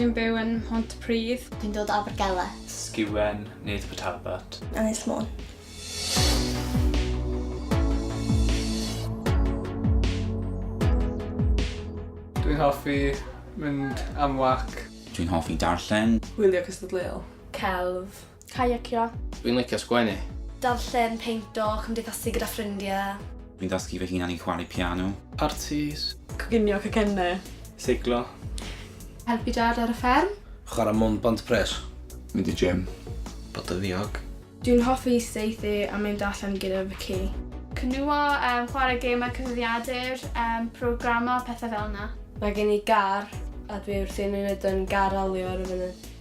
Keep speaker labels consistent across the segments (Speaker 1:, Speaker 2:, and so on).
Speaker 1: Dwi'n byw yn Mhontypridd. Dwi'n dod o Abergele.
Speaker 2: Sgüen,
Speaker 3: near to Port Talbot. Ynys Môn.
Speaker 4: Dwi'n hoffi mynd am walk. Dwi'n hoffi
Speaker 5: darllen. Hwylio cystadleuol.
Speaker 6: Celf.
Speaker 7: Caiacio. Dwi'n licio sgwennu.
Speaker 8: Darllen,
Speaker 7: peinto, cymdeithasu gyda ffrindiau. Dwi'n dysgu fy hunan
Speaker 5: i chwarae piano. Partis.
Speaker 6: Coginio cacennau.
Speaker 1: Seiclo.
Speaker 4: Helpu
Speaker 1: Dad ar y fferm. Chwarae mwn bont
Speaker 8: pres. Mynd i gym.
Speaker 9: Bod yn
Speaker 8: ddiog. Dwi'n hoffi
Speaker 1: saethu a mynd allan gyda fy ci. Cynwyo, chwarae gemau cyfrifiadur, programio, pethau fel 'na. Mae gen i gar
Speaker 7: a dwi wrthi'n mynd yn gar-alio ar y funud.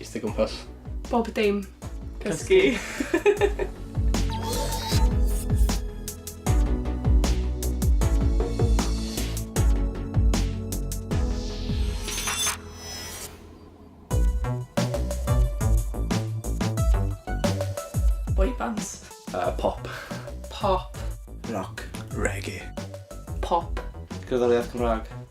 Speaker 8: Eistedd gwmpas. Bob dim.
Speaker 1: Cysgu.
Speaker 6: Cysgu. Uh, pop.
Speaker 10: Pop.
Speaker 6: Rock.
Speaker 8: Reggae. Pop.
Speaker 1: Gerddoriaeth
Speaker 10: Cymraeg.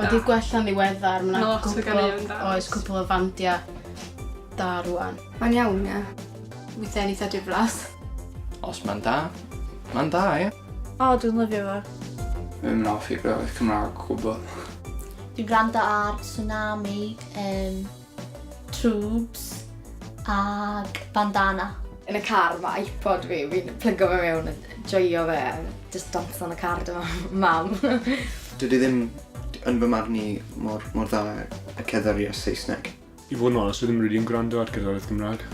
Speaker 1: Mae 'di gwella'n ddiweddar, mae 'na Lot o ganeuon
Speaker 6: da. Oes, cwpl o fandia
Speaker 1: da rwan. Mae'n iawn, ie. Weithiau'n eitha diflas. Os mae'n
Speaker 8: da, mae'n da, ie. O, dwi'n lyfio
Speaker 7: fo. Fi'n mynd off i
Speaker 4: gwybod Cymraeg o gwbl. Dwi'n gwrando
Speaker 2: ar Tsunami, um, Twbs ag bandana. Yn y car ma
Speaker 11: iPod fi, fi'n plygo fe mewn a joio fe a jyst dawns lan y car 'da mam. Dydi ddim,
Speaker 12: yn fy marn i, mor dda a cerddoriaeth Saesneg. I fod yn onest, fi ddim
Speaker 10: rili yn gwrando ar gerddoriaeth Gymraeg.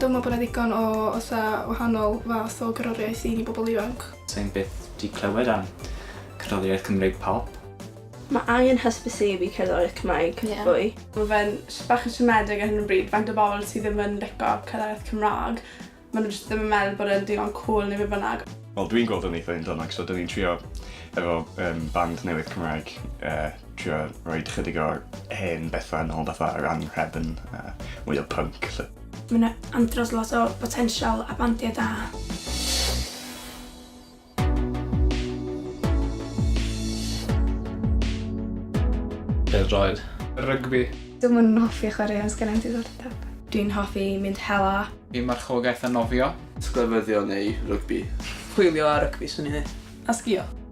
Speaker 1: Dwi'n meddwl bod 'na ddigon o fatha wahanol fath o gerddoriaeth i ni bobl ifanc. Sai'n byth 'di
Speaker 3: clywed am cerddoriaeth Cymreig pop. Mae angen
Speaker 7: hysbysebu cerddoriaeth Cymraeg fwy. Mae fe'n
Speaker 6: bach yn siomedig ar hyn o bryd faint o bobl sydd ddim yn lico cerddoriaeth Cymraeg. Maen nhw jyst ddim yn meddwl bod e'n digon cwl neu be bynnag. Wel dwi'n gweld o'n eitha'
Speaker 9: un-dynnog so 'dyn ni'n trio efo band newydd Cymraeg trio rhoi chydig o'r hen bethau yn ôl fatha yr anrhefn a mwy o punk. So. Mae yna
Speaker 1: andros lot o potensial a bandiau da.
Speaker 8: Pêl-droed. Rygbi.
Speaker 4: Dwi'n yn hoffi
Speaker 1: chwarae ond sgan i'm diddordeb. Dwi'n hoffi mynd hela. I marchogaeth a
Speaker 4: nofio. Sglefyddio neu
Speaker 12: rygbi. Chwilio a
Speaker 6: rygbi swn i'n dweud. A sgio.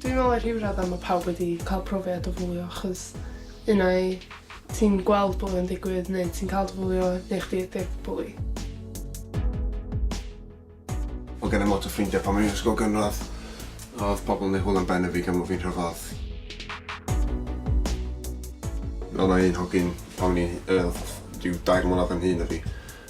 Speaker 6: Dwi'n meddwl ar rhyw raddau mae pawb wedi cael profiad o fwlio achos unai ti'n gweld bwlio yn digwydd neu ti'n cael dy fwlio neu chdi ydy'r bwli. Mae
Speaker 13: gennym lot o ffrindiau pan o'n i'n ysgol gynradd. Oedd pobl yn ei hwyl am ben y fi gan fod fi'n rhyfedd. Oedd yna un hogyn pan o'n i'n rhyw dair mlynedd yn hŷn na fi.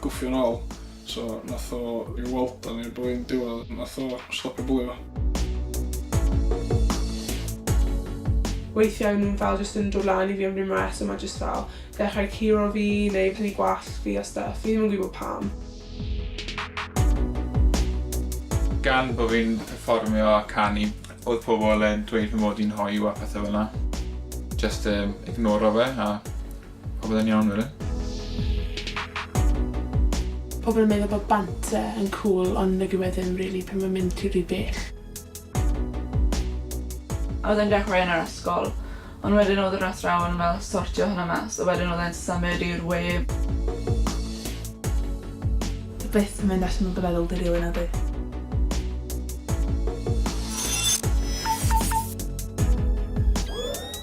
Speaker 14: Gwthio'n ôl, so nath o ryw weld o'n i'r blwyddyn diwedd, nath o stopio bwlio fo.
Speaker 6: Weithiau o'n nhw'n fel jyst yn dod lan i fi am ryw reswm a jyst fel dechrau curo fi neu prynu gwallt fi a stwff, fi ddim yn gwybod pam.
Speaker 4: Gan bo fi'n perfformio a canu, oedd pobl yn dweud fy mod i'n hoyw a pethau fel 'na. Jyst ignoro fe a Pobl yn iawn rili.
Speaker 15: Pobl yn meddwl bod banter yn cwl ond nagyw e ddim rili pan mae'n mynd ti rhy bell.
Speaker 16: A oedd e'n dechrau yn yr ysgol ond wedyn oedd yr athrawon yn fel sortio hwnna mas a wedyn oedd e'n symud i'r we.
Speaker 15: Ti byth yn mynd allan o dy feddwl di rili nadi?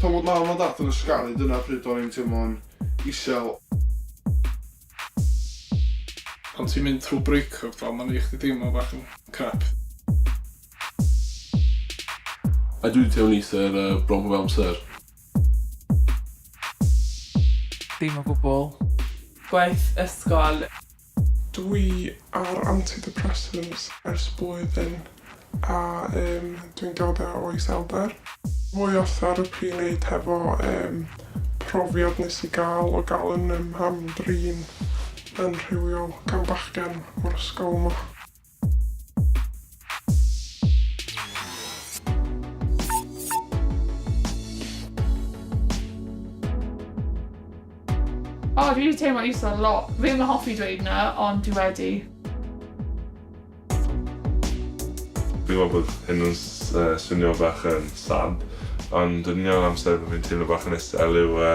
Speaker 13: Pan oedd mam a dad yn ysgaru dyna pryd o'n i'n teimlo'n isel.
Speaker 14: Pan ti'n mynd trwy breakup fel ma'n neu' chdi deimlo bach yn crap.
Speaker 17: A dwi'n teimlo'n isel bron pob amser.
Speaker 15: Dim o gwbl. Gwaith
Speaker 6: ysgol. Dwi ar antidepressants ers blwyddyn a yym dwi'n diodde o iselder. Fwy o therapi i neud hefo yym profiad nes i ga'l o ga'l yn 'y mham-drin yn rhywiol gan bachgen o'r ysgol 'ma.
Speaker 15: O, dwi wedi teimlo isol lot. Fi ddim yn hoffi dweud na, ond dwi wedi.
Speaker 17: Fi'n gwybod bod hyn yn swnio bach yn sad, ond yn union yr amser fi'n teimlo bach yn isel yw yy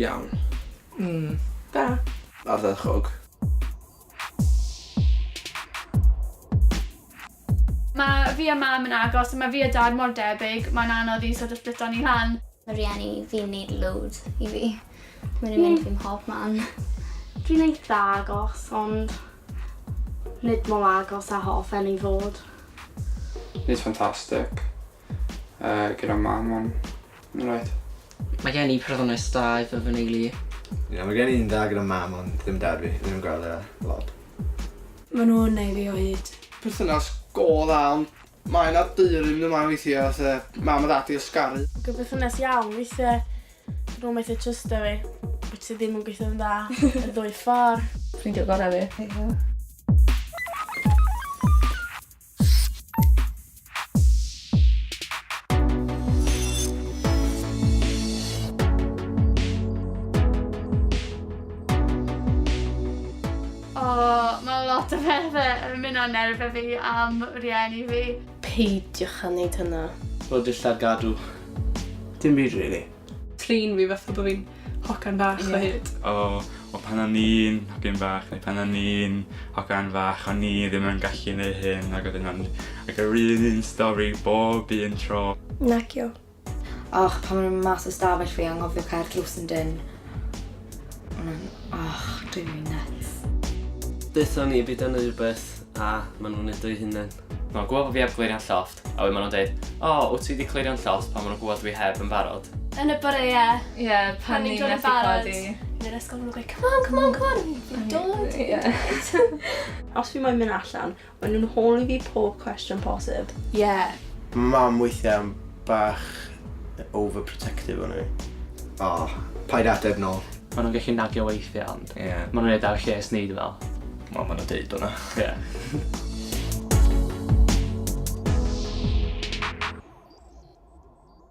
Speaker 12: Iawn. Mm.
Speaker 6: Da. Ardderchog.
Speaker 1: Mae fi a mam yn agos, mae fi a dad mor debyg, mae'n anodd i sort of splito ni lan. Mae rieni fi'n
Speaker 2: neud loads i fi. Mae'n mynd fi'n hob man. Dwi'n
Speaker 18: eitha agos, ond Nid mor agos a hoffen i fod. Nid
Speaker 4: ffantastig yy gyda mam on ma' reit. Mae gen i
Speaker 19: perthynas da efo fy neulu. Ie mae gen i un
Speaker 20: dda gyda mam ond ddim dad fi, ddim yn gweld e lot. Ma'
Speaker 7: nhw'n neu' fi o hyd. Perthynas go
Speaker 12: dda ond Mae 'na deulu mynd ymlaen weithie fatha mam a dad 'di ysgaru. Ag yn berthynas iawn
Speaker 18: weithie nhw methu trysto fi. Wyt ti ddim yn gweithio'n dda y ddwy ffor. Ffrindia gora fi. Ie.
Speaker 1: O, mae lot o bethau yn mynd o nerfau fi am rhieni fi. Peidiwch â
Speaker 18: wneud hynna. Rho dillad gadw.
Speaker 7: Dim byd really. Trin fi fatha bod fi'n hogan fach o hyd.
Speaker 6: O,
Speaker 7: o
Speaker 3: pan o'n i'n hogyn fach neu pan o'n i'n hogan fach o'n i ddim yn gallu neu hyn ac oedd hynna'n like yr un stori bob un tro. Nagyo.
Speaker 11: Och pan o'n i mas o stafell fi anghofio cau'r drws yn dyn. O'n i'n och dwi'n mynd nuts. Deutha
Speaker 21: ni byd yn rhywbeth a maen nhw'n neud o'i hunain. Mae'n gwybod bod fi heb
Speaker 22: glirio'n llofft, a wedyn maen nhw'n deud, O, wyt ti wedi clirio'n llofft pan maen nhw'n gwybod dwi heb yn barod. Yn y bore ie.
Speaker 1: Ie, pan ni'n methu
Speaker 16: barod. Yn
Speaker 1: yr ysgol maen nhw'n gweud, come on, come on, come on. Fi'n dod, fi'n dod. Os fi moyn
Speaker 18: mynd allan, Mae nhw'n holi fi pob cwestiwn posib. Yeah.
Speaker 1: Mae mam
Speaker 20: weithiau yn bach overprotective o'n i. O, paid ateb nôl. Mae nhw'n gallu nagio
Speaker 8: weithiau ond Ie. Mae nhw'n neud ar lles ni dwi fel. Wel mae nhw'n deud hwnna.
Speaker 9: Ie.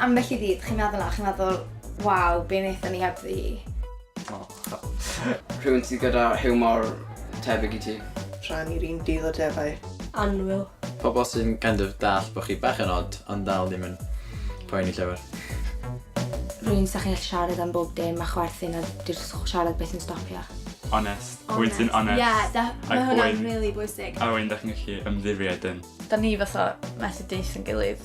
Speaker 11: Ambell i ddydd, chi'n meddwl na, chi'n meddwl, waw, be wnaethon ni heb fi?
Speaker 19: Rhywun sydd gyda hiwmor tebyg i ti. Rhan i'r un dydd
Speaker 12: o defaid. Anwyl.
Speaker 18: Pobl sy'n
Speaker 20: kind of dallt bod chi bach yn odd ond dal ddim yn poeni llawer.
Speaker 11: Rhywun 'sa chi'n gallu siarad am bob dim a chwerthin a 'di'r siarad byth yn stopio. Onest. Rhywun
Speaker 3: sy'n onest. Ie, def- mae hwnna'n
Speaker 1: rili bwysig. A rhywun 'da chi'n gallu
Speaker 3: ymddiried yn. 'Da ni fatha
Speaker 16: methu deutho'n gilydd.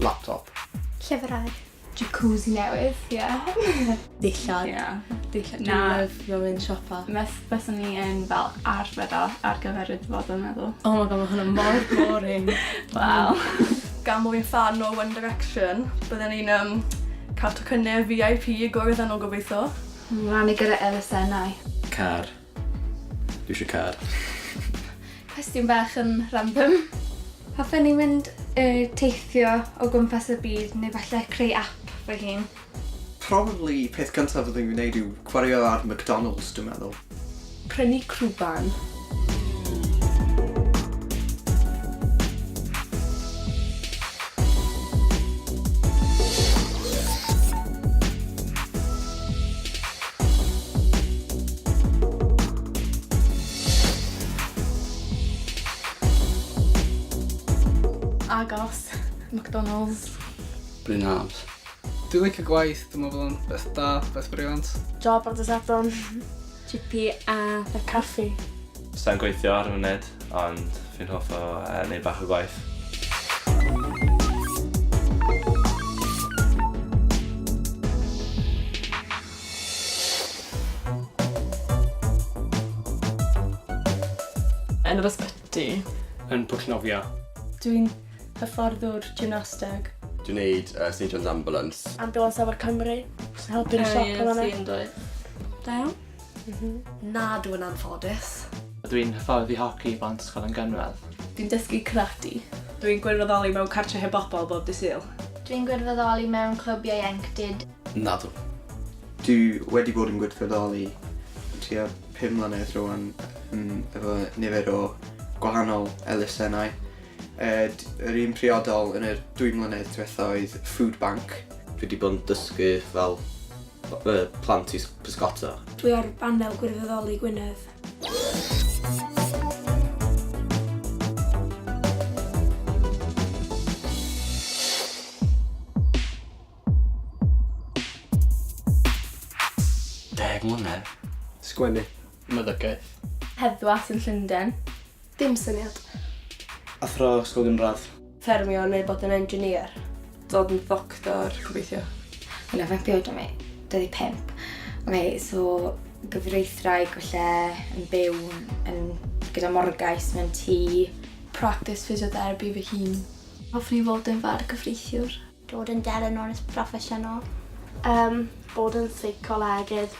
Speaker 20: Laptop. Llyfrau.
Speaker 1: Jacuzzi newydd, ie. Dillad. Ie,
Speaker 7: dillad.
Speaker 1: Na. Dwi'n
Speaker 7: lyfio mynd
Speaker 1: siopa.
Speaker 7: Fes, fyswn ni yn
Speaker 1: fel arbed o ar gyfer y dyfodol, meddwl. Oh my god, mae hwnna mor
Speaker 7: boring. Wel.
Speaker 1: Gan mwy o
Speaker 7: fan o One Direction, byddwn ni'n um, cael tocynnau VIP i gwrdd â nhw gobeithio. Rhan i gyda
Speaker 1: elusennau. Car.
Speaker 20: Dwi eisiau car.
Speaker 1: Cwestiwn bach yn random. Hoffen i
Speaker 11: mynd y teithio o gwmpas y byd neu falle creu app fy hun. Probably
Speaker 12: peth cyntaf fyddwn i'n wneud yw chwaraeo ar McDonalds dwi'n meddwl. Prynu
Speaker 7: crwban.
Speaker 1: Agos. McDonalds. Bryn
Speaker 20: Arms. Dwi'n licio
Speaker 14: gwaith, dwi'n meddwl yn beth da, beth briliant. Job ar dysadwn.
Speaker 18: Chippy a... A caffi. Sai'n gweithio
Speaker 22: ar y funud, ond fi'n hoff o uh, neud bach o gwaith.
Speaker 16: Yn yr ysbyty. Yn pwllnofio.
Speaker 8: Dwi'n
Speaker 18: hyfforddwr gymnasteg. Dwi'n neud
Speaker 9: uh, St John's Ambulance. Ambulance Afon Cymru.
Speaker 18: Sy'n helpu'r siop yn fanna. Sy'n dweud. Da
Speaker 16: iawn.
Speaker 1: Nadw yn
Speaker 7: anffodus. Dw i'n hyfforddi
Speaker 8: hoci i blant Ysgol yn gynradd. Dw i'n dysgu karate.
Speaker 7: Dw i'n gwirfoddoli mewn cartre heb bobl bob dydd Sul. Dw i'n gwirfoddoli
Speaker 1: mewn clwb ieuenctid. Nadw.
Speaker 12: Dw i wedi bod yn gwirfoddoli am tua pum mlynedd rwan efo nifer o gwahanol elusennau. Yr un priodol yn yr dwy mlynedd diwetha oedd food bank. Dw i wedi bod yn
Speaker 19: dysgu fel Y plant i bysgota. Dwi ar banel
Speaker 18: gwirfoddoli Gwynedd.
Speaker 21: Deg mlynedd. Sgwennu.
Speaker 8: Meddygaeth. Heddwas
Speaker 7: yn Llundain. Dim syniad.
Speaker 18: Athro
Speaker 19: ysgol gynradd. Ffermio neu bod
Speaker 7: yn engineer. Dod yn ddoctor, gobeithio. Hwnna faint dwi
Speaker 11: oed rwan? 25. Ok, so gyfreithwraig falle yn byw yn gyda morgais mewn tŷ. Practice
Speaker 1: physiotherapy fy hun. Hoffwn i fod yn fargyfreithiwr. Dod yn delynores
Speaker 2: proffesiynol. Yym,
Speaker 18: bod yn seicolegydd.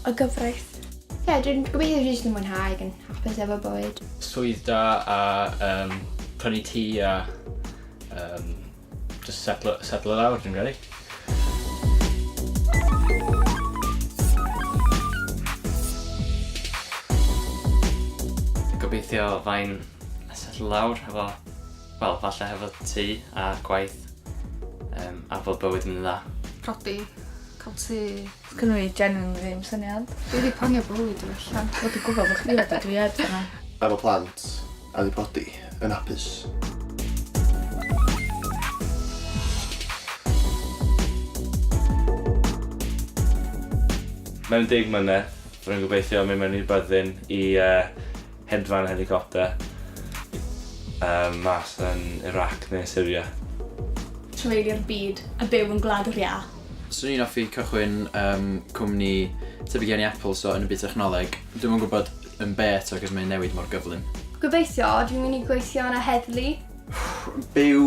Speaker 18: A
Speaker 1: gyfraith. Ie, dwi'n
Speaker 11: gobeithio jyst yn mwynhau ac yn hapus efo bywyd. Swydd da
Speaker 8: a um, prynu tŷ a um, just settle, settle lawr, dwi'n credu.
Speaker 22: Gobeithio fain settle lawr efo Wel, falle hefo tŷ a gwaith um, a bod bywyd yn mynd dda. Prodi,
Speaker 1: cael tŷ. Cynnu i genuinely
Speaker 16: ddim syniad. Dwi wedi planio bywyd
Speaker 1: i allan. Dwi wedi gwybod bod chdi wedi
Speaker 16: dwi ed yna. Efo plant
Speaker 9: a di prodi yn hapus.
Speaker 3: Mewn deg mlynedd, rwy'n gobeithio mynd mewn i'r byddin i uh, Hedfan helicopter um, mas yn Iraq neu Syria. Treuli'r
Speaker 1: byd a byw yn gwlad yr iâ. Swn i'n offi
Speaker 20: cychwyn um, cwmni tebyg iawn i Apple, so yn y byd technoleg. Dwi'n yn gwybod yn be eto, cos mae'n newid mor gyflym. Gobeithio, dwi'n
Speaker 1: mynd i gweithio yn y heddlu. Byw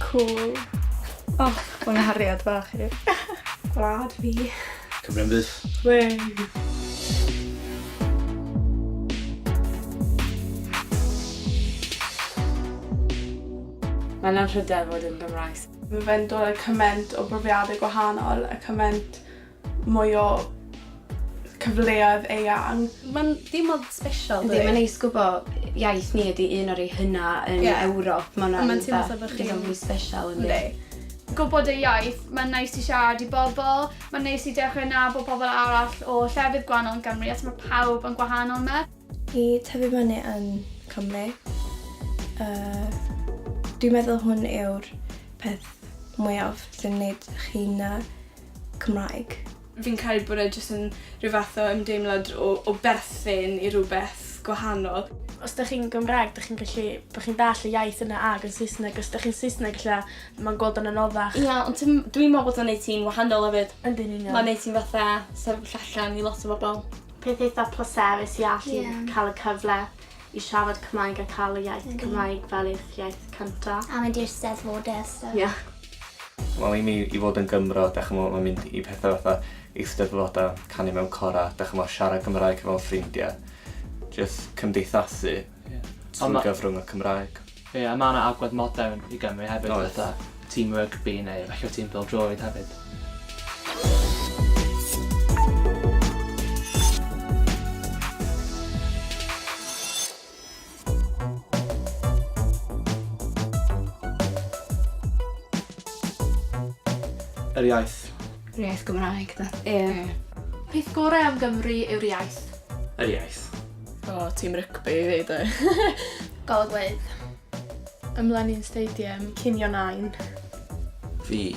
Speaker 9: Cŵl.
Speaker 16: Och, ma' nghariad bach i. Gwlad
Speaker 1: fi. Cymru am fyth.
Speaker 9: Wei!
Speaker 18: Mae'n anrhydedd fod yn Gymraes. Mae fe'n dod â
Speaker 7: cyment o brofiadau gwahanol a cyment mwy o cyfleoedd eang. Mae'n deimlad
Speaker 1: special dydi? Yndi, mae'n neis gwbo
Speaker 11: iaith ni ydi un o'r rei hynna yn yeah. Ewrop. Mae'n ma teimlo fel bod chi'n fwy special yn yndi. Gwybod ei
Speaker 1: iaith, mae'n neis i siarad i bobl, mae'n neis i dechrau nabod pobl arall o llefydd gwahanol yn Gymru, os mae pawb yn gwahanol yma. I tyfu
Speaker 7: fyny yn Cymru, uh, dwi'n meddwl hwn yw'r peth mwyaf sy'n gwneud chi'n uh, Cymraeg. Fi'n credu bod e jyst yn rhyw fath o ymdeimlad o, o berthyn i rhywbeth gwahanol. Os da chi'n
Speaker 18: Gymraeg, da chi'n gallu, bod chi'n dall y iaith yna ag yn Saesneg. Os da chi'n Saesneg, lle mae'n gweld o'n anoddach. Ia, yeah, ond dwi'n
Speaker 5: meddwl bod o'n neud ti'n wahanol hefyd. Yndyn ni'n iawn. Mae'n neud ti'n
Speaker 18: fatha
Speaker 5: sefyll allan i lot o bobl. Peth eitha
Speaker 18: pleserus i allu yeah. cael y cyfle i siarad Cymraeg a cael y iaith Cymraeg fel eich iaith cynta. A mynd i'r Steddfod
Speaker 2: a stwff. Ie.
Speaker 22: Wel i mi i fod yn Gymro 'da ch'mo' ma' mynd i pethe fatha Eisteddfoda, canu mewn cora, 'da ch'mo' siarad Cymraeg hefo'n ffrindia. Jyst cymdeithasu. Ie. Trwy gyfrwng y Cymraeg. Ie a ma' 'na agwedd
Speaker 8: modern i Gymru hefyd. Oes. Fatha tîm rygbi neu efallai tîm pêl-droed hefyd.
Speaker 19: Yr iaith. Yr iaith Gymraeg
Speaker 11: 'de?
Speaker 1: Ie. Peth gore am Gymru yw'r iaith. Yr iaith.
Speaker 3: O, oh, tîm
Speaker 7: rygbi i fi, dwi. Golygfeydd.
Speaker 18: Ymlenin Stadium. Cinio Nain. Fi.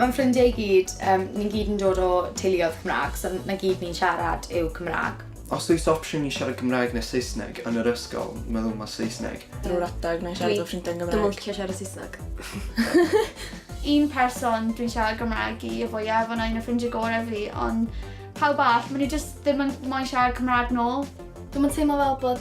Speaker 11: Mae'n ffrindiau i gyd, um, ni'n gyd yn dod o teuluoedd Cymraeg, so na gyd ni'n siarad yw Cymraeg. Os oes opsiwn i
Speaker 12: siarad Cymraeg neu Saesneg yn yr ysgol, meddwl ma Saesneg. Drwy'r adeg, na i siarad
Speaker 7: efo ffrindiau yn Gymraeg. Dwi'm yn licio siarad Saesneg.
Speaker 1: Un person dwi'n siarad Gymraeg i y fwyaf a 'na un o ffrindiau gorau fi ond pawb arall, maen nhw jyst
Speaker 5: ddim
Speaker 1: yn moyn siarad Cymraeg nôl. Dwi'm yn
Speaker 5: teimlo
Speaker 1: fel bod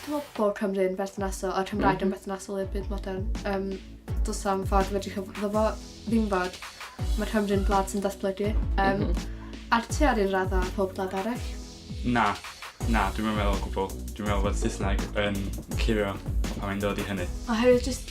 Speaker 15: Dwi'n meddwl bod Cymru'n berthnasol a'r Cymraeg yn mhm. berthnasol i'r byd modern. Um, dos am ffordd fedrwch chi fod fo ddim fod. Mae Cymru'n blad sy'n datblygu. Um, mm -hmm. A'r tu ar un radda pob blad arall. Na,
Speaker 3: na, dwi'n meddwl o gwbl. Dwi'n meddwl bod Saesneg yn clirio pan mae'n dod i hynny. Oherwydd jyst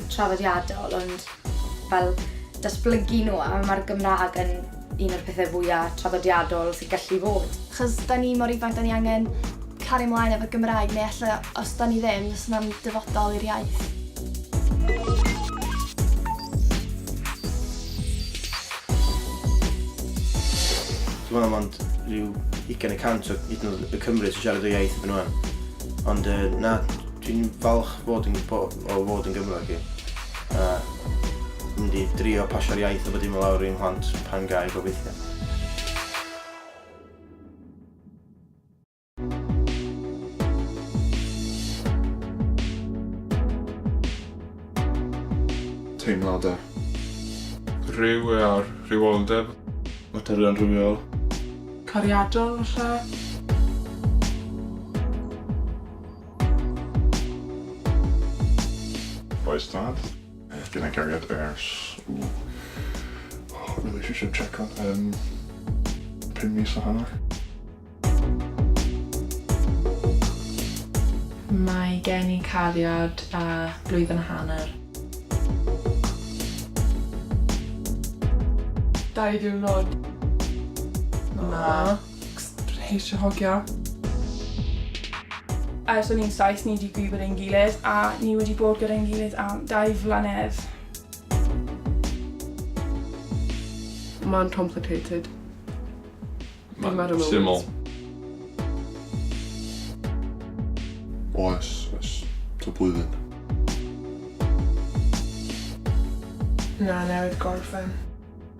Speaker 11: traddodiadol ond fel datblygu nhw a mae'r Gymraeg yn un o'r pethau fwya' traddodiadol sy'n gallu fod. Achos 'da ni mor
Speaker 1: ifanc 'da ni angen cario mlaen efo'r Gymraeg neu ella os 'da ni ddim fysa hwnna'n dyfodol i'r iaith.
Speaker 17: Dwi meddwl mond rhyw ugain y cant o hyd yn oed y Cymry sy'n siarad y iaith erbyn ŵan ond yy na dwi'n falch fod yn gwbo- o fod yn Gymraeg i, a mynd i drio pasio'r iaith a bod dim lawr i'n mhlant pan gai gobeithio.
Speaker 13: Teimladau.
Speaker 4: Rhyw a'r rhywioldeb. Materion rhywiol. Cariadon
Speaker 6: falle?
Speaker 23: Oes dad? Fi na gariad ers... Ooh. Relationship check on. Um, pum mis a hanner.
Speaker 16: Mae gen i cariad a blwyddyn a hanner.
Speaker 6: Dau ddiwrnod.
Speaker 16: Na.
Speaker 6: Ceisio hogia.
Speaker 5: Ers o'n i'n saith ni wedi gwybod ein gilydd a ni wedi bod gyda'n gilydd am dau flynedd.
Speaker 6: Mae'n complicated.
Speaker 4: Mae'n syml.
Speaker 23: Oes, oes. Ta blwyddyn.
Speaker 6: Na, newid gorffen.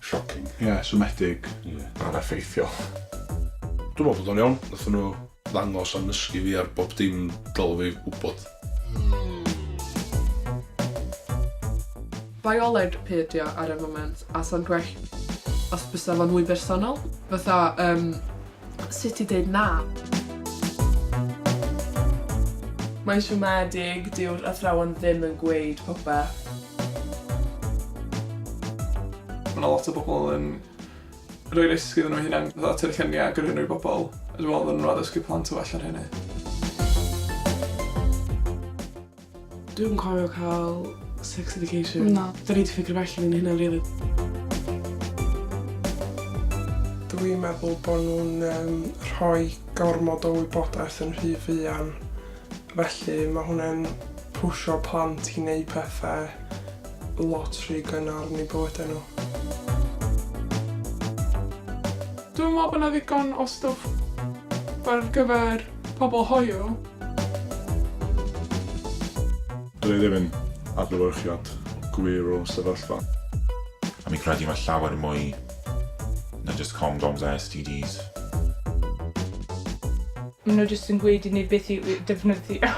Speaker 23: Shocking. Ie, yeah, siomedig. Ie. Yeah. Aneffeithiol.
Speaker 24: Dwi'n meddwl bod o'n iawn. Nath nhw ddangos a nysgu fi ar bob dim dylw fi wybod.
Speaker 6: Bioleg pe ydi o ar y foment, a sa'n gwell os bysa fo'n mwy bersonol. Fatha, um, Sut i deud na? Mae'n siomedig, dyw'r athrawon ddim yn gweud popeth.
Speaker 4: Mae 'na lot o bobl yn rhoi risg iddyn nhw eu hunain, fatha tynnu lluniau a gyrru nhw i bobl, a dwi'n meddwl fyddan nhw'n addysgu plant yn well ar hynny.
Speaker 6: Dwi'm cofio cael sex education. Na. Da ni wedi ffigur fy allan yn hynna rili. Dwi'n meddwl bod nhw'n um, rhoi gormod o wybodaeth yn rhy fuan. Felly mae hwnna'n pwysio plant i wneud pethau lot rhy gynnar yn ei bywydau nhw. Dwi'n meddwl bod yna ddigon o stwff ar gyfer Pobl hoyw.
Speaker 23: Dw i ddim yn adlewyrchiad gwir o'r sefyllfa. A mi
Speaker 25: credu mae llawer mwy na jyst condoms a STDs.
Speaker 5: Maen nhw jyst yn gweud i ni beth i defnyddio.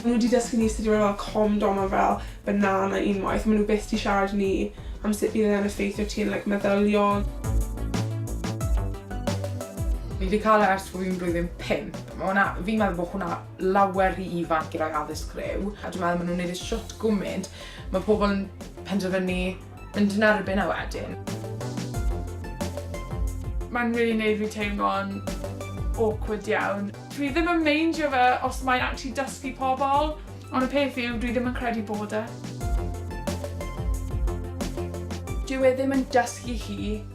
Speaker 5: Maen nhw 'di dysgu ni sut i roi fel condom a fel banana unwaith, maen nhw byth 'di siarad i ni am sut bydd e'n effeithio ti yn like meddyliol.
Speaker 9: Fi 'di cael e ers bo' fi'n blwyddyn pump. Ma' hwnna, fi'n meddwl bo' hwnna lawer rhy ifanc i roi addysg rhyw, a dwi'n meddwl ma' nhw'n neud e shwt gwmynt, ma' pobl yn penderfynu Mynd yn erbyn e wedyn.
Speaker 5: Mae'n really neud fi teimlo'n awkward iawn. Dwi ddim yn meindio fe os mae'n actually dysgu pobl, ond y peth yw, dwi ddim yn credu bod e. Dyw e ddim yn dysgu chi.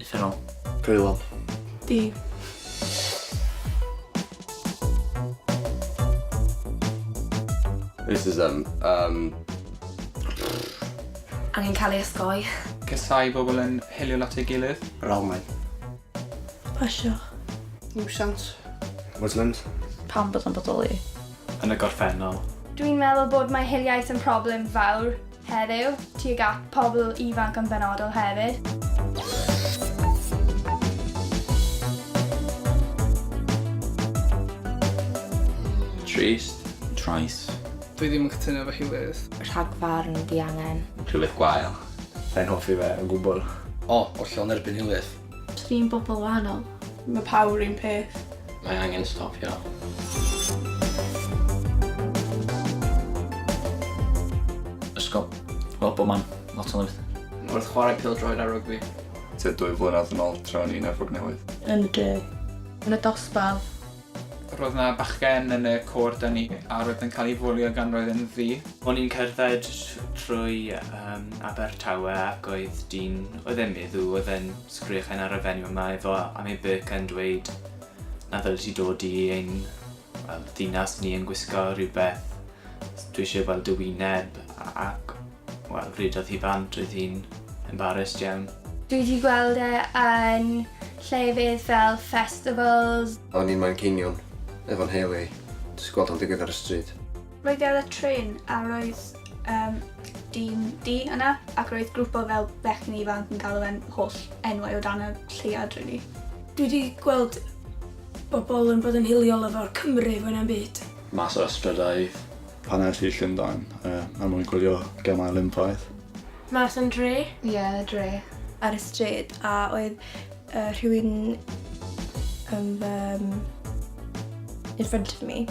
Speaker 8: Uffernol. Brwylol.
Speaker 17: Di.
Speaker 19: Racism. Um...
Speaker 11: Angen cael ei osgoi. Cysau bobl
Speaker 4: yn hilio lot ei gilydd. Ralmau.
Speaker 7: Pasio.
Speaker 17: Nuisance. Muslims. Pam bod yn
Speaker 16: bodoli? Yn y
Speaker 22: gorffennol. Dwi'n meddwl bod
Speaker 1: mae hiliaeth yn problem fawr heddiw, tuag at pobl ifanc yn benodol hefyd.
Speaker 3: Trist. Trais. Dwi ddim yn
Speaker 10: cytuno efo Huws. Rhagfarn
Speaker 11: diangen. Rhywbeth gwael.
Speaker 19: Sa i'n hoffi fe
Speaker 22: o gwbl. O, hollol yn
Speaker 17: erbyn hiliaeth. Tri'n bobl
Speaker 11: wahanol. Mae pawb yr un
Speaker 7: peth. Mae angen stopio.
Speaker 8: Ysgol. Wel, bob man. Lot o lefydd. Wrth chwarae pêl-droed
Speaker 10: a rygbi. Tua dwy
Speaker 13: flynedd yn ol tra o'n i'n Efrog Newydd. Yn y du.
Speaker 7: Yn y dosbarth.
Speaker 16: Roedd 'na
Speaker 4: bachgen yn y côr 'da ni a roedd yn cael ei fwlio gan roedd e'n ddu. O'n i'n cerdded
Speaker 22: trwy um, Abertawe ac oedd dyn, oedd e'n meddw, oedd e'n sgrechen ar y fenyw yma efo am ei byc yn dweud na ddyl ti dod i ein well, ddinas ni yn gwisgo rhywbeth Dwi eisiau gweld dy wyneb ac wel rhydodd hi bant, roedd hi'n embarrassed iawn. Dwi di gweld
Speaker 1: e yn llefydd fel festivals. O'n i'n Manceinion
Speaker 13: efo nheulu i, jyst gweld o'n digwydd ar y stryd. Roedd i ar y trên
Speaker 1: a roedd yym dyn du yna ac roedd grwp o fel bechgyn ifanc yn galw fe'n holl enwau o dan y lleuad rili. Dwi di
Speaker 7: gweld bobl yn bod yn hiliol efo'r Cymry fwy na'm byd. Mas o Ystradaith.
Speaker 23: Pan es i Llundain er mwyn gwylio gemau Olympaidd. Mas yn dre?
Speaker 7: Ie, yn y dre.
Speaker 15: Ar y stryd
Speaker 7: a oedd rhywun yn fy in front of me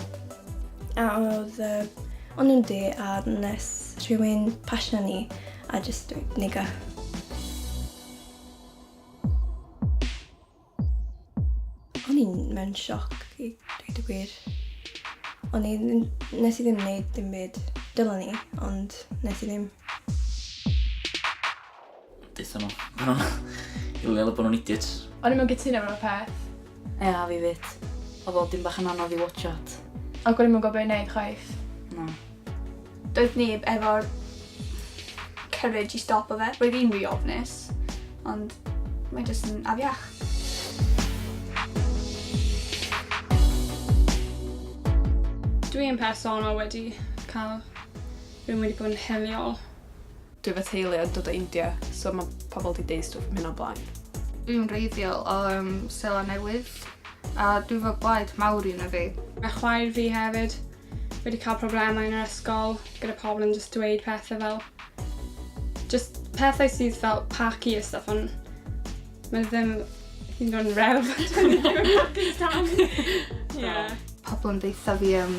Speaker 7: a oedd o'n nhw'n du a nes rhywun pasio ni a jyst dweud 'niga'. O'n i'n mewn sioc i dweud y gwir. O'n i... nes i ddim wneud dim byd. Dylan ni, ond nes i ddim.
Speaker 8: Dethon nhw. O'n i'n meddwl bod nhw'n idiots. O'n i'n mewn gytuno mewn
Speaker 5: peth. Ie, a fi
Speaker 16: fyd. Oedd o dim bach yn anodd i watch at. Ac o'n i'n mewn gwybod
Speaker 5: beth i wneud chwaith. Na.
Speaker 16: Doedd
Speaker 1: neb efo'r courage i stopo fe. Roedd hi'n rhy ofnus, ond mae jyst yn afiach.
Speaker 14: Dwi yn personol wedi cael rhywun wedi bod yn hiliol. Dwi fy
Speaker 16: teulu yn dod o India, so mae pobl wedi deud stwff am hyn o blaen. Dwi'n wreiddiol
Speaker 15: o um, Sela Newydd a dwi fy blaid mawr un o fi. Mae chwaer fi
Speaker 14: hefyd. fi wedi cael problemau yn yr ysgol gyda pobl yn jyst dweud pethau fel jyst pethau sydd fel paci a stuff ond mae ddim hyd yn oed rew. yeah. Pobl yn deitha
Speaker 15: fi um,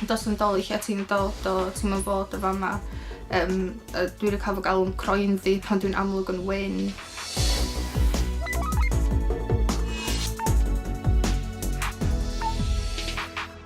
Speaker 15: dos yn dol i lle ti'n dod o, ti'n mynd fod o fama. Um, dwi wedi cael fy galw'n croen fi pan dwi'n amlwg yn wyn.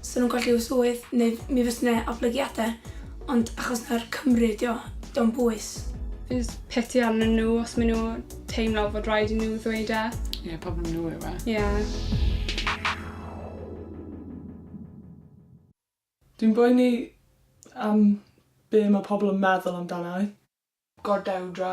Speaker 7: 'Sa nhw'n colli y swydd neu mi fysa 'na oblygiadau ond achos mai'r Cymry ydi o, 'di o'm bwys.
Speaker 14: Jyst
Speaker 7: piti
Speaker 14: arnyn nhw os maen nhw teimlo fod
Speaker 7: rhaid
Speaker 14: i nhw ddweud e. Ie,
Speaker 9: problem nhw yw e. Ie.
Speaker 2: Dwi'n boeni am be mae pobl yn meddwl amdana i. Gordewdra.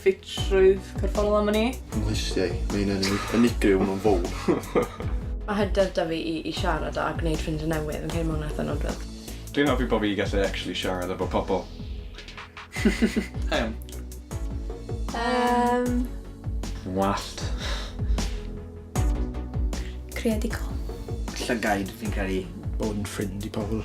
Speaker 9: Ffitrwydd corfforol am wn i. Fy nghlustiau, mae hyn
Speaker 17: yn unigryw, mae'n fowr. Mae hyder
Speaker 12: 'da fi i i siarad a gwneud ffrindiau newydd, fi'n credu mae hwnna'n eitha' nodwedd. Dwi'n hoffi bod fi
Speaker 20: gallu actually siarad efo pobl. Iawn.
Speaker 9: Yym.
Speaker 20: Yn wallt.
Speaker 11: Creadigol. Llygaid,
Speaker 17: fi'n credu. Bod yn ffrind i pobl.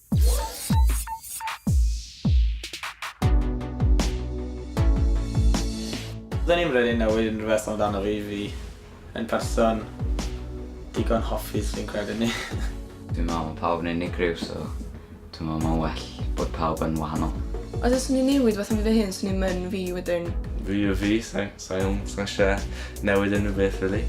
Speaker 8: Do'n i'm rili'n newid unrhyw beth amdano fi, fi yn person digon hoffus fi'n credu ni. Dwi'n meddwl mae
Speaker 10: pawb yn unigryw, so dwi'n meddwl mae'n well bod pawb yn wahanol. Os fyswn i'n newid
Speaker 12: rhywbeth am fi fy hun, swn i'm yn fi wedyn. Fi yw fi, so...
Speaker 3: Sa i ddim yn eisiau newid unrhyw beth rili.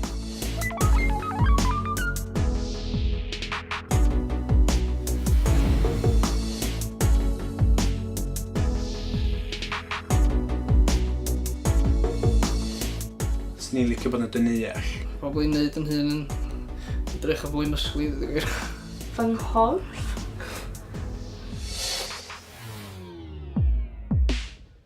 Speaker 10: Swn i'n licio bod yn dyneall. Probably wneud yn hun yn edrych yn fwy mysgwydd i wir. Fy
Speaker 15: nghorff.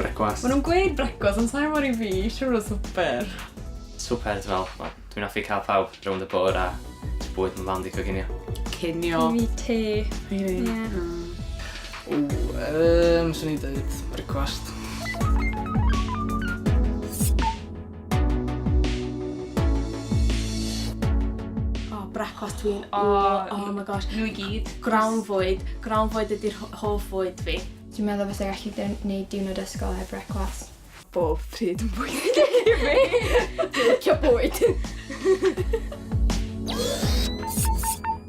Speaker 8: Brecwast. Maen nhw'n gweud
Speaker 9: brecwast, ond sa'n mor i fi, siwr o swper. Swper,
Speaker 8: ti'n fel, wel, dwi'n offi cael pawb rownd y bwr a bwyd yn fand i coginio. Cinio. I fi
Speaker 9: te.
Speaker 14: I fi. Yeah.
Speaker 9: O,
Speaker 10: um, swn i'n dweud brecwast.
Speaker 12: brecwast dwi'n... O, oh, oh my gosh. Nhw i gyd. Grawn
Speaker 14: fwyd.
Speaker 12: Grawn fwyd ydy'r hoff fwyd fi. Dwi'n meddwl fes ag allu
Speaker 15: gwneud diwrnod ysgol heb brecwast. Bob pryd
Speaker 12: yn bwyd i fi. Dwi'n licio bwyd.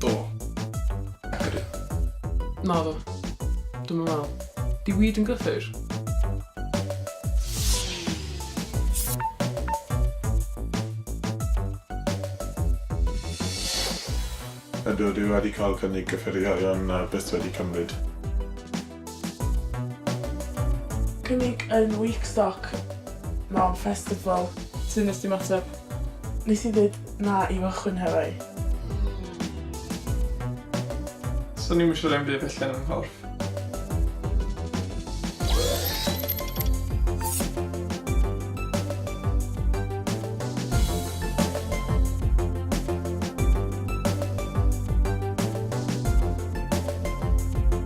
Speaker 2: Do. Ac yr un. Na do. Dwi'm yn meddwl. Di weed yn gyffur?
Speaker 20: Ydw, dwi wedi cael cynnig cyffurie-ion a byth wedi cymryd.
Speaker 2: Cynnig yn Week Stock mewn festival. Sut nes di ymateb? Nes i ddeud na i fy chwynhefau.
Speaker 10: Swn i'm yn siarad am byd felly yn fy nghorff.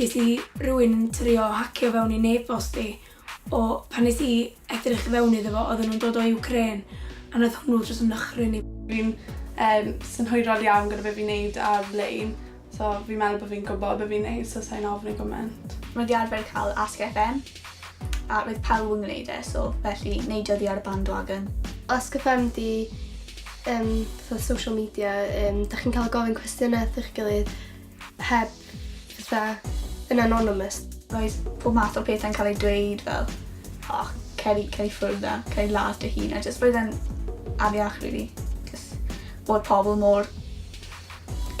Speaker 1: Ges i rywun yn trio hacio fewn i n-e-bost i o pan nes i edrych i fewn iddo fo oedden nhw'n dod o Ukraine a nath hwnnw jyst nychryn i. Fi'n yym
Speaker 5: synhwyrol iawn gyda be' fi'n neud ar-lein so fi'n meddwl bo' fi'n gwbo be' fi'n neud so sai'n ofni gyment. Mae 'di arfer ca'l
Speaker 1: Ask FM. A roedd pawb yn gwneud e, so felly neidio oddi ar y bandwagon. Os gyffem di
Speaker 15: um, fatha social media, um, da chi'n cael gofyn cwestiynau wrth eich gilydd heb fatha yn anonymous. Roedd pob
Speaker 1: math o pethau'n cael ei dweud fel, o, oh, cer i, cer i ffwrdd na, cer i ladd dy hun, a jyst roedd e'n afiach, really. Just bod pobl mor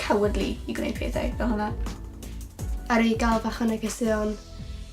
Speaker 1: cowardly i gwneud pethau fel hwnna. Ar
Speaker 15: ei gael fach o negeseuon,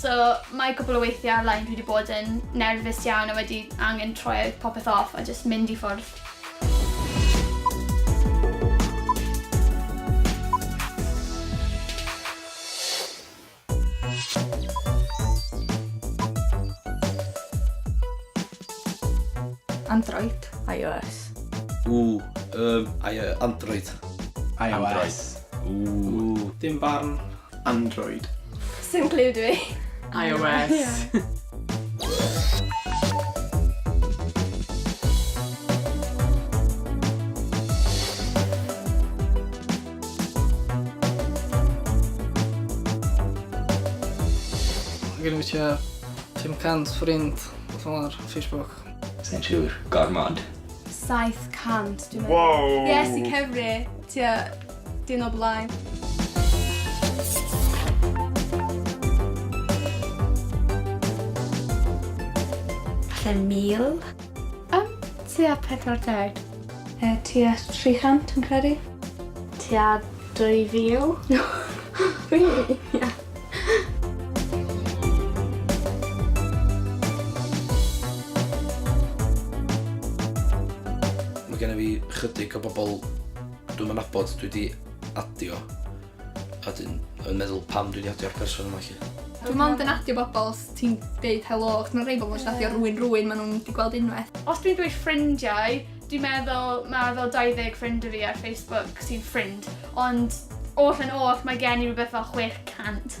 Speaker 1: So mae cwpl o weithiau ar lein dwi wedi bod yn nerfus iawn a wedi angen troi popeth off a jyst mynd i ffwrdd.
Speaker 16: Android. IOS. Ww, yym, I-
Speaker 10: yy, Android. IOS.
Speaker 17: Ww.
Speaker 10: Dim barn. Android.
Speaker 17: Sim clue
Speaker 15: dwi. iOS.
Speaker 10: Dwi'n gonna wisio Tim Cant, Ffrind, beth fel 'na ar Facebook. Sai'n siŵr.
Speaker 4: Gormod. 700 dwi'n
Speaker 15: meddwl. Wow! Yes, i Cymru. Tua Dyn o blaen.
Speaker 18: Falle mil? Ym,
Speaker 15: tua 40. E,
Speaker 18: tua 300 yn credu. Tua 2000. really?
Speaker 15: Yeah.
Speaker 10: Mae gen i fi chydig o bobl Dwi'm yn nabod, dwi 'di adio a 'dyn yn meddwl pam dwi 'di adio'r person yma 'lly. Dwi mond yn adio
Speaker 15: bobl os ti'n deud helo, achos ma' rhei bobl jyst adio rywun rywun ma' nhw'n 'di gweld unwaith. Os dwi'n dweud ffrindiau,
Speaker 1: dwi'n meddwl ma' fel 20 ffrind 'da fi ar Facebook sy'n ffrind, ond oll yn oll mae gen i rywbeth fel 600.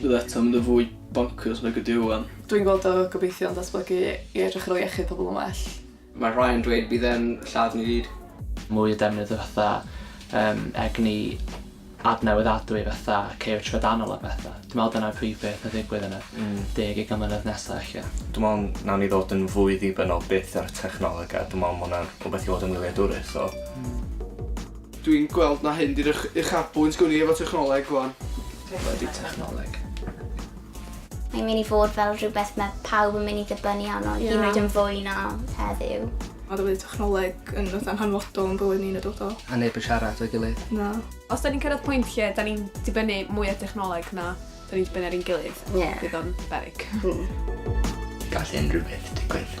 Speaker 2: Bydd eto mynd yn fwy bonkers nag ydyw wan. Dwi'n gweld o gobeithio'n
Speaker 19: datblygu i edrych ar ôl iechyd pobl yn well. Mae rhai yn dweud
Speaker 10: bydd e'n lladd ni gyd. Mwy o defnydd
Speaker 21: o fatha um, egni adnewyddadwy fatha ceo trydanol a betha. Dwi'n meddwl dyna'r prif beth a ddigwydd yn y 20 mlynedd nesa ella. Dwi'n meddwl nawn ni ddod
Speaker 22: yn fwy ddibynnol byth ar y technoleg a dwi'n meddwl ma' hwnna'n rhywbeth i fod yn wyliadwrus o.
Speaker 2: Dwi'n gweld na hyn 'di'r uchafbwynt gwn i efo technoleg rwan. Be' 'di
Speaker 10: technoleg?
Speaker 18: Mae'n mynd i fod fel rhywbeth mae pawb yn mynd i ddibynnu arno, yeah. hyd yn oed yn fwy na heddiw. A dwi wedi
Speaker 19: technoleg yn fatha'n hanfodol yn bywyd ni'n y dodol. A neb yn siarad o'i
Speaker 10: gilydd. Na. Os da ni'n
Speaker 19: cyrraedd pwynt
Speaker 24: lle da ni'n dibynnu mwy o technoleg na da ni'n dibynnu ar ein gilydd,
Speaker 4: yeah.
Speaker 24: bydd o'n berig.
Speaker 4: Mm.
Speaker 24: Gall unrhyw
Speaker 4: beth
Speaker 24: digwydd.